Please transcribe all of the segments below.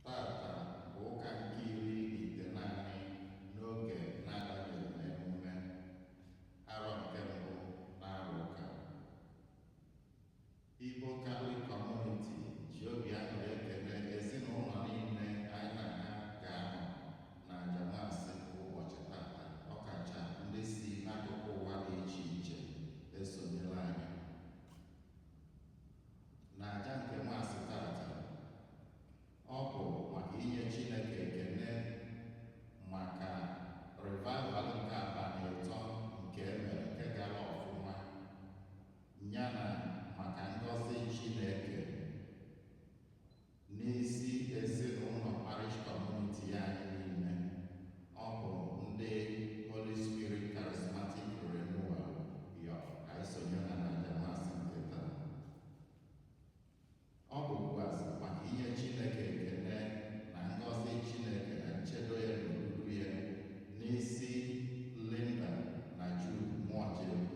Tata bụ ụka nke iri na itenaanị n'oge na-adanyeghị n'emume arọ nke mbụ n'arọ ụka. Igbo Catholic Community ji obi aṅụrị ekele ezinụlọ niile anyị na ha ga-anọ na aja maasị nke ụbọchị tata ọkacha ndị si n'akụkụ ụwa dị iche iche esonyere anyị na aja nke maasị tata ọ bụ maka inye Chineke ekene maka revival nke abalị ịtọ nke e mere nke gara ọfụma yana maka ngọzi Chineke N'isi ezinụnọ parish community anyị niile, ọ bụ ndị Holy Spirit Charismatic Renewal yọ ka anyị sonye ha n'aja maasị nke taa. Ọ bụkwazị maka inye Chineke ekene na ngọzi Chineke na nchedo ya na odudu ya n'isi Linda na Jude Mụọjelu.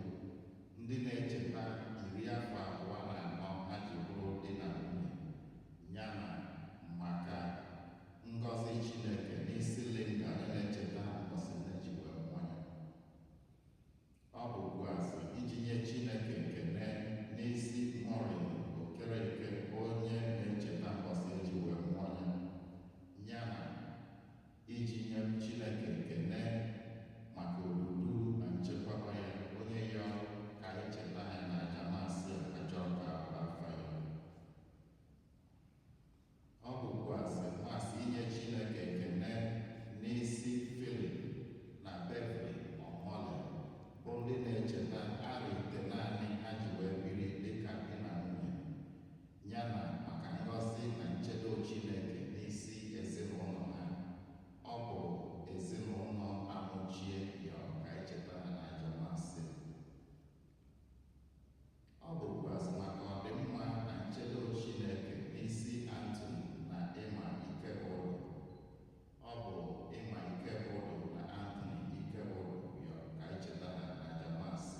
Ndị na-echeta iri afọ abụọ na anọ ha ji bụrụ di na nwunye yana maka ngọzi Chineke n'isi Linda onye na-echeta mbọsị nne ji wee mụọ ya. Ọ bụkwazị iji nye Chineke ekene n'isi Maureen Okereke onye na-echeta mbọsị e ji wee mụọ ya yana iji nye Chineke ekene maka odudu na nchekwaba ya onye yọ ka anyị cheta ya na aja maasị Ajaọka Abafayo ọ bụkwazị maasị inye Chineke ekene n'isi Philip na Beverly Omole bụ ndị na-echeta arọ itenaanị ha ji wee biri dịka di na nwunye yana maka ngọzi na nchedo Chineke n'isi ezinụnọ ha. Ọ bụ ezinụnọ Amuchie yọ ka anyị cheta ha na aja maasị. Ọ bụkwazị maka ọdịmma na nchedo Chineke n'isi Anthony na Emma Ikebudu. Ọ bụ Emma Ikebudu na Anthony Ikebudu yọ ka anyị cheta ha na aja maasị.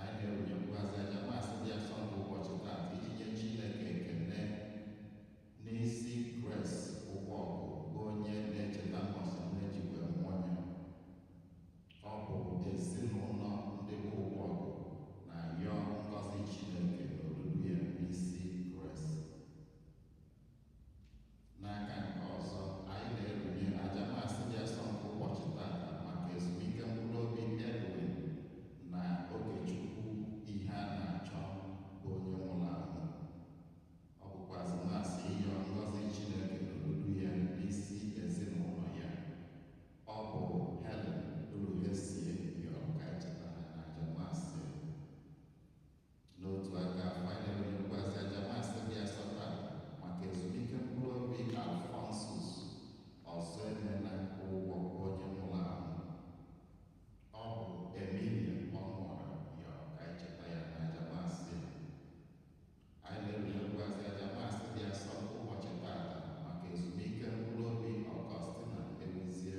Anyị na-erunyekwazị aja maasị dị asọ nke ụbọchị taata iji nye Chineke ekene n'isi Grace Ụgbọgụ bụ onye na-echeta mbọsị nne ji wee mụọ ya. Ọ bụ ezinụnọ ndị bụ Ụgbọgụ na-ayọ ngọzi Chineke na odudu ya n'isi Grace. N'aka nke ọzọ, anyị na-erunye aja Mass dị asọ nke ụbọchị taata maka ezumike mkpụrụ obi Edwina Ogechukwu Iheanachọ bụ onye nwụrụ anwụ. Ọ bụkwazị Mass ịyọ ngọzi Chineke n'odudu ya n'isi ezinụlọ ya. Ọ bụ Helen Uruhesie yọrọ ka anyị cheta ha n'aja Mass. N'otu aka ahụ, anyị na-erunyekwazị aja Mass dị asọ taata maka ezumike mkpụrụ obi Alphonsus Ọzọemena Ụgwọ bụ onye nwụrụ anwụ. Ọ bụ Emilia Ọnụọra yọrọ ka anyị cheta ya n'aja Mass a. Anyị na-erunyekwazị aja Mass dị asọ nke ụbọchị taata maka ezumike mkpụrụ obi Augustina Eguzie.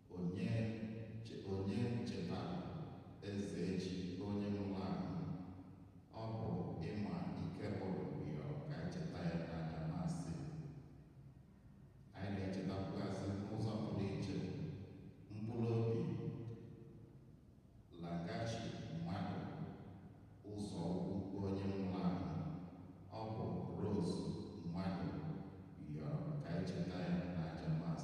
Onye che onye chetara Ezechi onye nwụrụ anwụ. Ọ bụ Imma Ikegwuru yọrọ ka anyị cheta ya n'aja Mass. Anyị na-echetakwazị n'ụzọ pụrụ iche mkpụrụ obi laghachi Madụ Ụzọukwu onye nwụrụ anwụ. Ọ bụ Rose Madụ yọrọ ka anyị cheta ya n'aja Mass.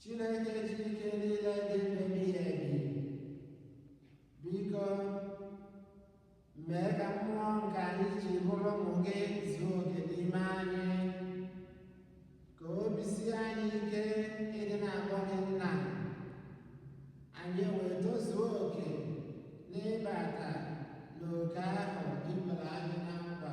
Chineke ji ike niile dị ebighị ebi biko mee ka mmụọ nke anyị ji bụrụ ụmụ gị zuo oke n'ime anyị ka obi sie anyị ike ịdị na-akpọ gị nna anyị wee tozuo oke n'ịbata n'oke ahụ ị bara anyị na nkwa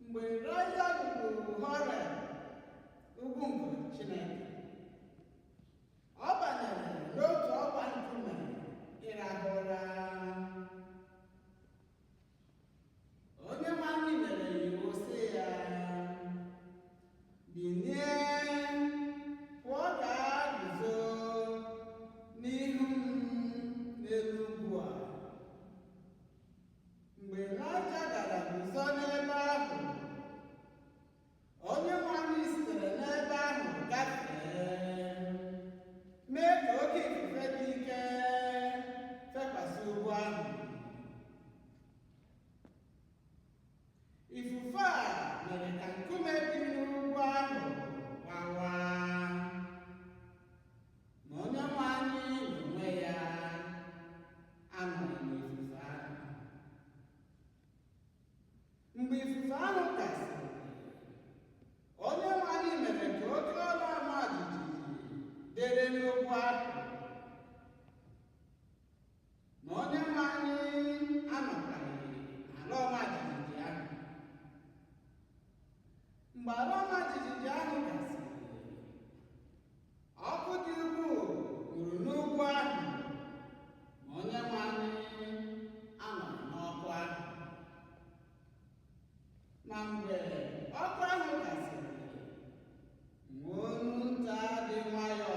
mgbe Ịlaịja ruru Horeb ugwu nke Chineke ọ banyere n'otu ọgba nkume ịrahụ ụra Onyenwe anyị nyere iwu sị ya binie pụọ gaa guzo n'ihu m n'elu ugwu a mgbe Ịlaịja gara guzo n'ebe ahụ Onyenwe anyị sitere n'ebe ahụ gafee mee ka oke ifufe dị ike fekwasị ugwu ahụ Ifufe a mere ka nkume dị n'ugwu ahụ gbawaa, ma Onyenwe anyị n'onwe ya anọghị n'ifufe ahụ. Mgbe ifufe ahụ gasịrị, Onyenwe anyị mere ka oke ala ọma jijiji dịrị n'ugwu ahụ. Ma onye nwe anyị anọkwaghị n'ala ọma jijiji ahụ. Mgbe ala ọma jijiji ahụ gasịrị, ọkụ dị ukwuu nwuru n'ugwu ahụ, ma onye nwe anyị anọghị n'ọkụ ahụ. Ma mgbe ọkụ ahụ gasịrị, nwa olu nta dị nwayọọ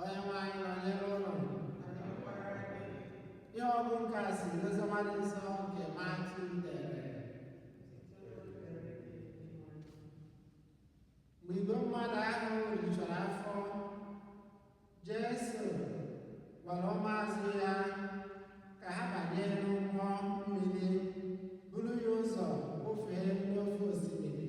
Onyenwe anyị nọnyere unu ihe ọgụgụ nke a si n'oziọma dị nsọ nke Matiu dere mgbe igwe mmadụ ahụ rijuru afọ Jesu gwara ụmụazụ ya ka ha banye n'ụgbọ mmiri buru ya ụzọ kwọfee n'ofe osimiri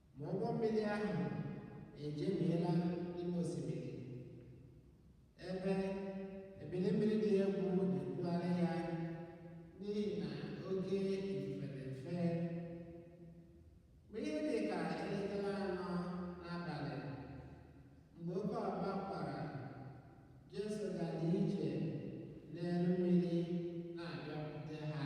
Ma ụgbọ mmiri ahụ ejemiela n'ime osimiri, ebe ebili mmiri dị egwu na-ebugharị ya n'ihi na oke ifufe na-efe. Mgbe ihe dị ka elekere anọ n'abalị, mgbe oke ọkpa kwara, Jesu gara ije n'elu mmiri na-abịakwute ha.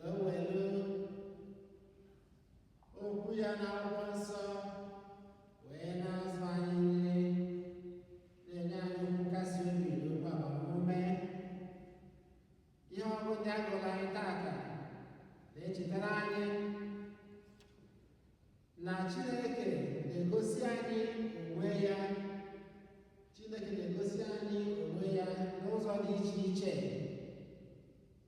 wee welu okwu ya na akwụkwọ nsọ wee na-azụ anyị nri na-enye anyị nkasi obi na okwu agbamume ihe ọgụgụ ndị a gụụrụ anyị taata na-echetara anyị na Chineke na-egosi anyị onwe ya Chineke na-egosi anyị onwe ya n'ụzọ dị iche iche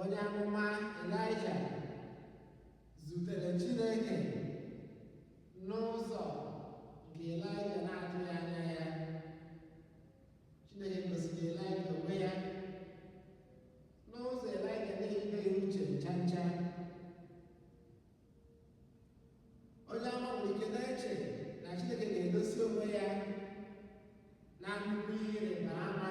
onye amụma Ịlaịja zutere Chineke n'ụzọ nke Ịlaịja na-atụghị anya ya Chineke gosiri Ịlaịja onwe ya n'ụzọ Ịlaịja na-etinyeghị uche ncha ncha onye amụma nwere ike na-eche na Chineke ga-egosi onwe ya na nnukwu ihe ịrịba ama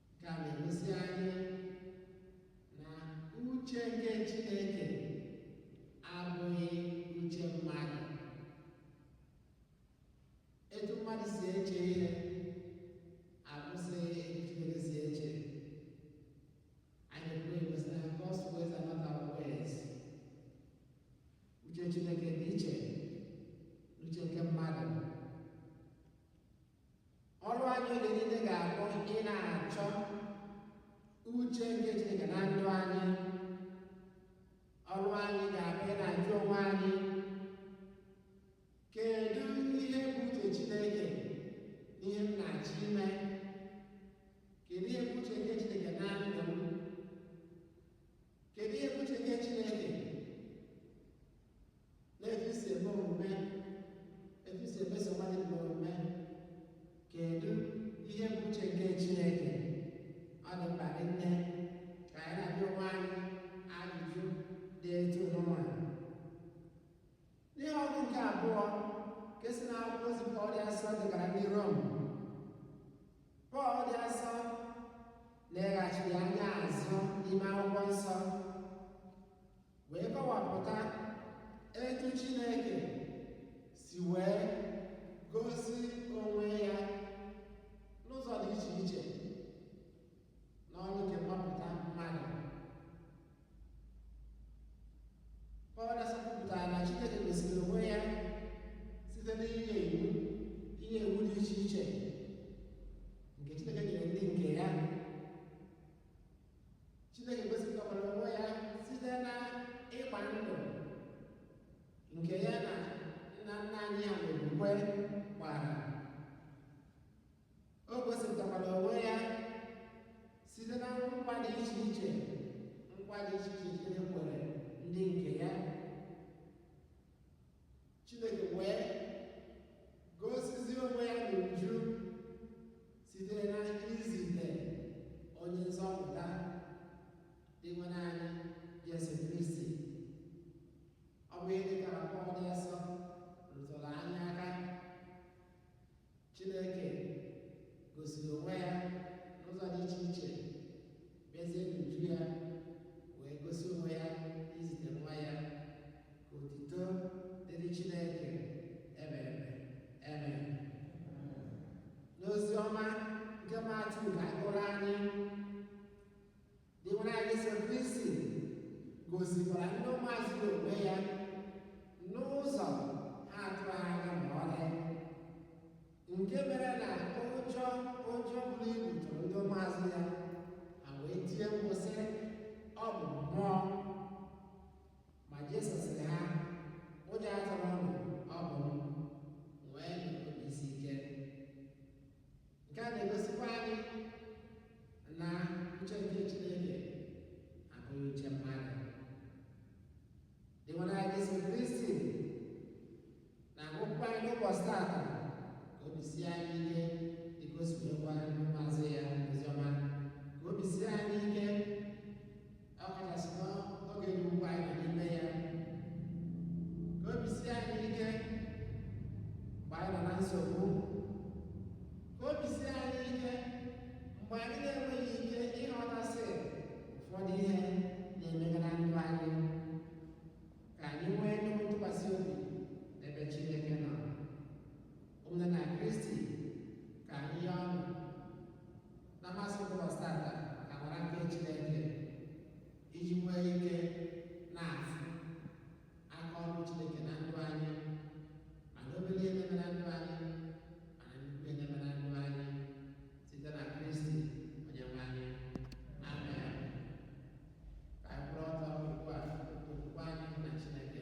Nke a na-egosi anyị na uche nke Chineke abụghị uche mmadụ. Etu mmadụ si eche ihe abụsịghị etu Chineke si eche. Anyị nwere ike ịsị na God's ways are not our ways. Uche Chineke dị iche n'uche nke mmadụ. ọrụ anyị oge niile ga-abụ ị na-achọ uche nke Chineke na ndụ anyị ọrụ anyị ga-abụ ị na-ajụ onwe anyị kedu ihe bụ uche Chineke n'ihe m na-achọ ime kedu ihe bụ uche nke Chineke na ndụ m Kedu ihe bụ uche nke Chineke n'etu i si eme omume etu i si emeso mmadụ ibe omume kedu ihe bụ uche nke Chineke ọ dị mkpa nne ka anyị na-ajụ onwe anyị ajụjụ dị etu nụnwa N'ihe ọgụgụ nke abụọ nke si n'akwụkwọ ozi Pọl dị asọ degara ndị Rom Pọl dị asọ leghachiri anya azụ n'ime akwụkwọ nsọ wee kọwapụta etu Chineke si wee gosi onwe ya n'ụzọ dị iche iche n'ọrụ nke mgbapụta mmadụ Pọl dị asọ kwupụtara na Chineke gosiri onwe ya site n'inye iwu inye iwu dị iche iche nke Chineke nyere ndị nke ya Chineke gosipụtakwara onwe ya site na ịgba ndụ nke ya na nna nna anyị ha n'okwukwe gbara O gosipụtakwara onwe ya site na nkwa dị iche iche nkwa dị iche iche Chineke kwere ndị nke ya Chineke wee gosizi onwe ya n'uju site na izite onye nzọpụta Dinwenụ anyị Jesu Kristi ọ bụ ihe ndị a ka Pọl dị asọ rụtụrụ anyị aka Chineke gosiri onwe ya n'ụzọ dị iche iche bịazie n'uju ya wee gosi onwe ya izite nwa ya ka otito dịrị Chineke ebebe ebebe n'ozi ọma nke Matiu ka a kọọrọ anyị Dinwenụ anyị Jesu Kristi gosikwara ndị ụmụazụ ya onwe ya n'ụzọ ha atụghị anya ma ọlị nke mere na ụjọ ụjọ buru ibu tụrụ ndị ụmụazụ ya ha wee tie mkpu sị ọ bụ mmụọ ma Jesu sịrị ha ụjọ atụla unu ọ bụ m nke a na-egosikwa anyị na uche nke Chineke abụghị uche mmadụ Dinwenụ anyị Jesu Kristi na-agwakwa anyị n'ụbọchị taata ka obi sie anyị ike dịka o si wee gwa ndị ụmụazụ ya oziọma ka obi sie anyị ike ọkachasị n'oge dị ugbu a anyị nọ n'ime ya ka obi sie anyị ike mgbe anyị nọ na nsogbu ka obi sie anyị ike mgbe anyị na-enweghị ike ịghọtasị ụfọdụ ihe na-emega na ndụ anyị ka anyị nwee ntụkwasị obi n'ebe Chineke nọ ụmụnna na kristi ka anyị yọọnụ na mass ụbọchị tata amara nke chineke iji nwee ike na-afụ aka ọrụ chineke na ndụ anyị ma na obere ihe na-eme na ndụ anyị ma na nnukwu ihe na-eme na ndụ anyị site na kristi onye nwe anyị amen ka anyị kwụrụ ọtọ ugbu a okwukwe anyị na chineke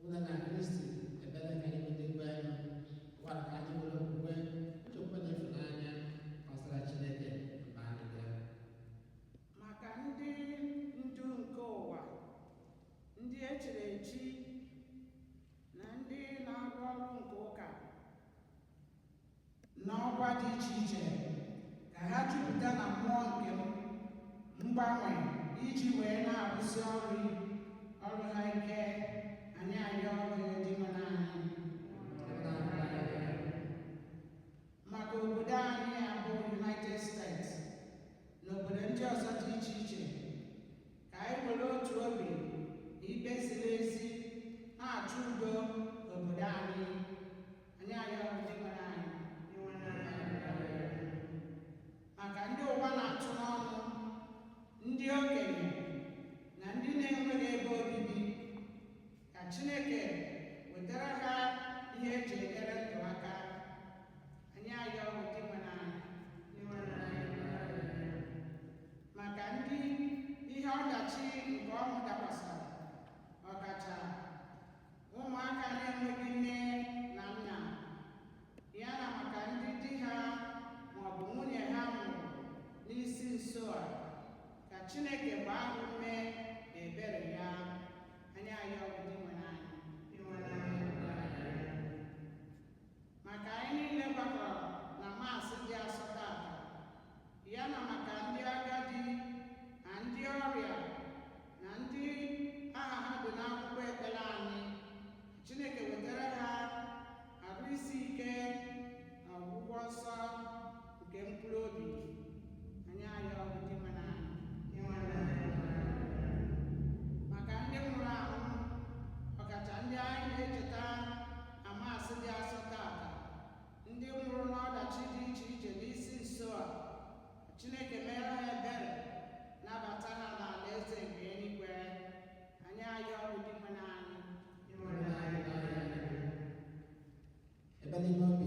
Ụmụnna na Kristi ekpere nke anyị ndị kwerenụ ugbu a ka anyị were okwukwe nchekwube na ịfụnanya kọsara Chineke mkpa anyị ga. maka ndị ndu nke ụwa ndị echiri echi na ndị na-arụ ọrụ nke ụka n'ọkwa dị iche iche ka ha jupụta na mmụọ nke mgbanwe iji wee na-arụsi ọrụ ọrụ ha ike anyị ayọọ Dinwenụ anyị maka obodo anyị abụ United States na obodo ndị ọzọ dị iche iche ka anyị were otu obi na ikpe ziri ezi na-achụ udo n'obodo anyị anyị ayọọ Dinwenụ anyị maka ndị ụwa na-atụ n'ọnụ ndị okenye na ndị na-enweghị ebe obibi ka Chineke wetara ha ihe eji enyere ndụ aka anyị ayọọ Dinwenụ ụmụaka na-enweghị nne na nna ya na maka ndị di ha maọbụ nwunye ha nwụrụ n'isi nso a ka Chineke gbaa ha ume na ebere ya anyị ayọọ Dinwenụ anyị maka anyị niile gbakọrọ na Mass dị asọ tata ya na maka ndị agadi na ndị ọrịa na ndị aha ha dị n'akwụkwọ ekpere anyị chineke wetara ha arụ isi ike na ọgwụgwọ nsọ nke mkpụrụ obi anyị ayọọ dinwenụ anyị maka ndị nwụrụ anwụ ọkacha ndị anyị na-echeta na mass dị asọ tata ndị nwụrụ n'ọdachi dị iche iche n'isi nso a Chineke mere ha ebere nabata ha n'alaeze nke eluigwe anyị ayọọ Dinwenụ anyị ịhụrụ na anyị n'anya ebe n'ime obi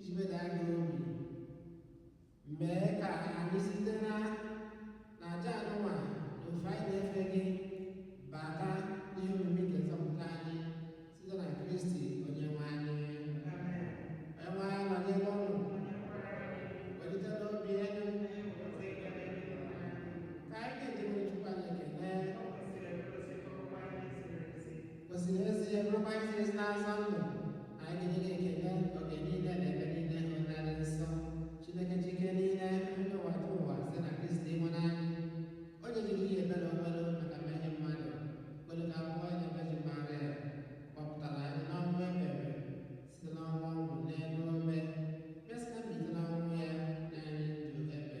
iji meda anyị obi mee ka anyị site na na aja anụnwa na ofe anyị na-efe gị bata n'ihe omimi nke nzọpụta anyị site na kristi onye nwe anyị onye nwe anyị nọnyere unu welitenụ obi elu ka anyị nye dinwenụ chukwu anyị ekele Kwesịrị ezie bụrụkwa ezi ezi na-azọ ndụ anyị ga-enye gị ekele oge niile na ebe niile O Nna dị nsọ Chineke ji ike niile onye ụwatụwa site na Kristi Dinwenụ anyị onye jiri ihi ebere o nwere maka mmehie mmadụ kwere ka a mụọ ya na Vejin Maria gbapụtara anyị n'ọnwụ ebebe site n'ịnwụ ọnwụ n'elu obe mesịa mbilite n'ọnwụ ya nye anyị ndụ ebebe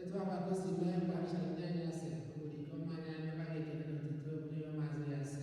Etu a ka o si mee mgbe e richara nri anyasị, o were iko mmanya wee nye gị ekele na otuto nye ụmụazụ ya sị.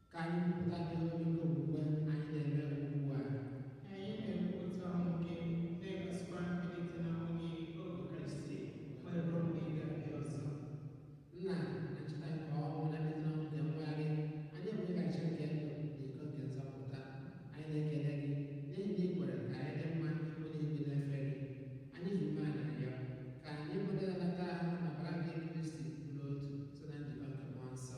Ka anyị kwupụta ihe omimi nke okwukwe anyị. Dinwenụ, Anyị na-ekwupụta ọnwụ gị na-egosikwa mbilite n'ọnwụ gị O Kristi wee ruo mgbe ị ga-abịa ọzọ. Nna na ncheta nke ọnwụ na mbilite n'ọnwụ nke nwa gị, anyị enye gị achịcha nke ndụ na iko nke nzọpụta. Anyị na-ekele gị n'ihi na ị kwere ka anyị dị mma ịkwụ n'ihu gị na-efe gị. Anyị ji umeala na-arịọ ka anyị bụ ndị na-anata ahụ na ọbara nke Kristi bụrụ otu site na njikọ nke mmụọ nsọ.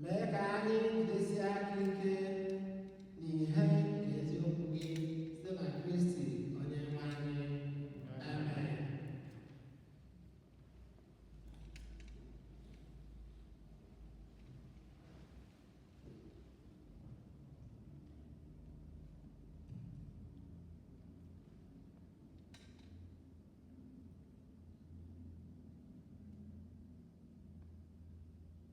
mee ka anyị jidesie aka ike n'ihe nke eziokwu gị site na Kristi onye nwe anyị amen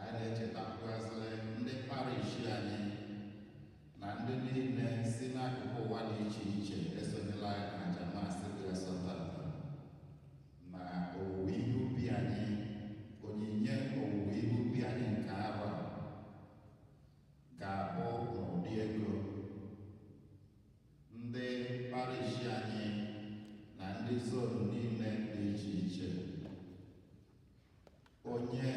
anyị na-echetakwuazị ndị parish anyị na ndị niile si n'akụkụ ụwa dị iche iche esonyela anyị n'aja Mass dị asọ tata na owuwe ihe ubi anyị onyinye owuwe ihe ubi anyị nke arọ a ga-abụ n'ụdị ego ndị parish anyị na ndị zone niile dị iche iche onye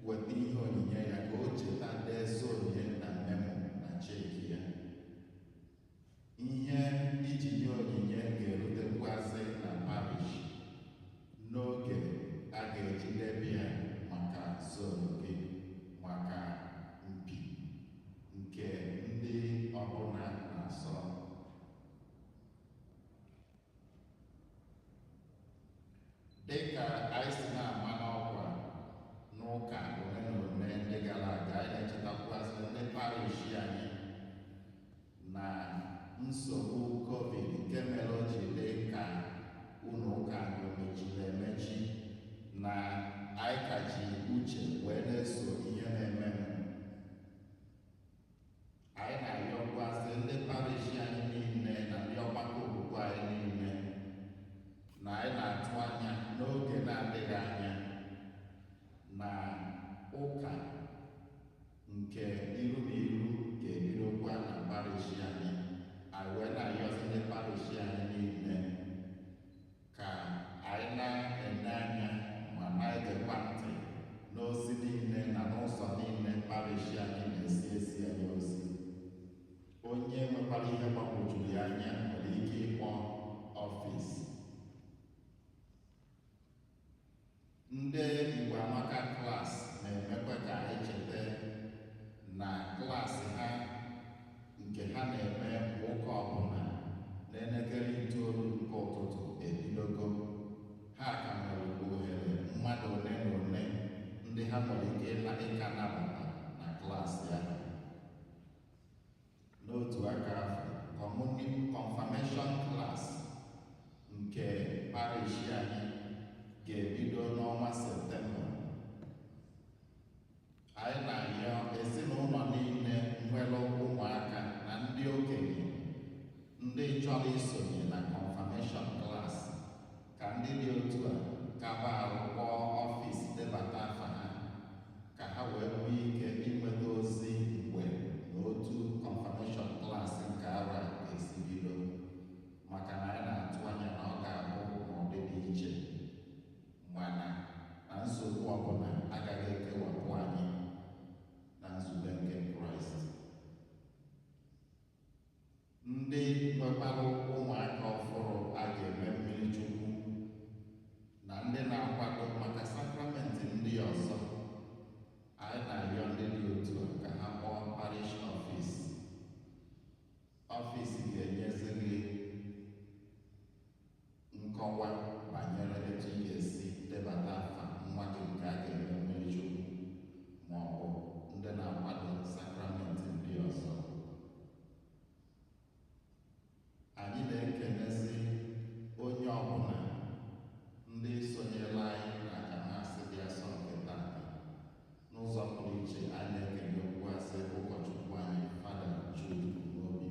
weta ihe onyinye ya ka o cheta dee zone ya na memo na cheki ya ihe i ji nye onyinye ga-erutekwuazị na parish n'oge a ga-eji debe ya maka zone gị maka mpi nke ndị ọbụla na-asọ dịka anyị si na-ama n'ọkwa n'ụka ole na ole ndị gara aga anyị na-echetakwuazị ndị parish anyị na nsogbu covid nke mere o ji dị ka ụlọ ụka mechiri emechi na anyị ka ji uche wee na-eso ihe na-emenụ Anyị na-arịọkwazị ndị parish anyị niile na ndị ọgbakọ okwukwe anyị niile na anyị na-atụ anya n'oge na-adịghị anya na ụka nke iru na iru ga-ebidokwa na parish anyị anyị wee na-arịọzị ndị parish anyị niile Ka anyị na-ele anya ma na-egekwa ntị n'ozi niile na n'ụzọ niile parish anyị na-esi ezi anyị ozi. Onye nwekwara ihe gbagwojuru ya anya nwere ike ịkpọ ọfịs. Ndị Igbo Amaka class na-emekwa ka anyị cheta na klaasị ha nke ha na-eme kwa ụka ọbụla n'elekere itoolu nke ụtụtụ ebidogo ha ka nwere ohere mmadụ ole na ole ndị ha nwere ike ịka nabata na klaasị ahụ N'otu aka afụ, communion confirmation class nke parish anyị ga-ebido n'ọnwa September. Anyị na-arịọ ezinụlọ niile nwere ụmụaka na ndị okenye ndị chọrọ isonye na confirmation class ka ndị dị otu a kaba arụ kpọọ ọfịs debata afa ha ka ha wee nwee ike inweta ozi mgbe na otu confirmation class nke arọ a ga-esi bido maka na anyị na-atụ anya na ọ ga-abụ n'ụdị dị iche mana na nsogbu ọbụla agaghị ekewapụ anyị na nzube nke kraịst Ndị nwekwara ụmụaka ọfụrụ a ga-eme mmiri chukwu na ndị na-akwado maka sakramenti ndị ọzọ anyị na-arịọ ndị dị otu a ka ha kpọọ parish ọfis ọfis ga-enyezi gị Nkọwa banyere etu ị ga-esi debata afa nwa gị nke a ga-eme mmiri chukwu ma ọ bụ ndị na-akwado sakramenti ndị ọzọ. Anyị na-ekenezi onye ọbụla ndị sonyela anyị na aja Mass dị asọ nke tata n'ụzọ pụrụ iche a na-ekenekwuazị ụkọchukwu anyị fada Jude Umeobi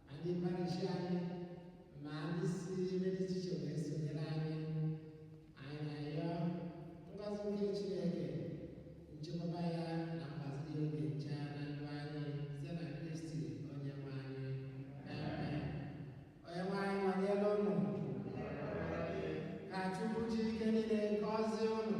ma ndị parish anyị ma ndị si ebe dị iche iche wee sonyere anyị anyị na-ayọ ngọzi nke Chineke nchekwaba ya na mgbaziri oge ncha na ndụ anyị site na Kristi onye nwe anyị Amen. onye nwe anyị nọnyere ụnụ ka Chukwu ji ike niile gọzie ụnụ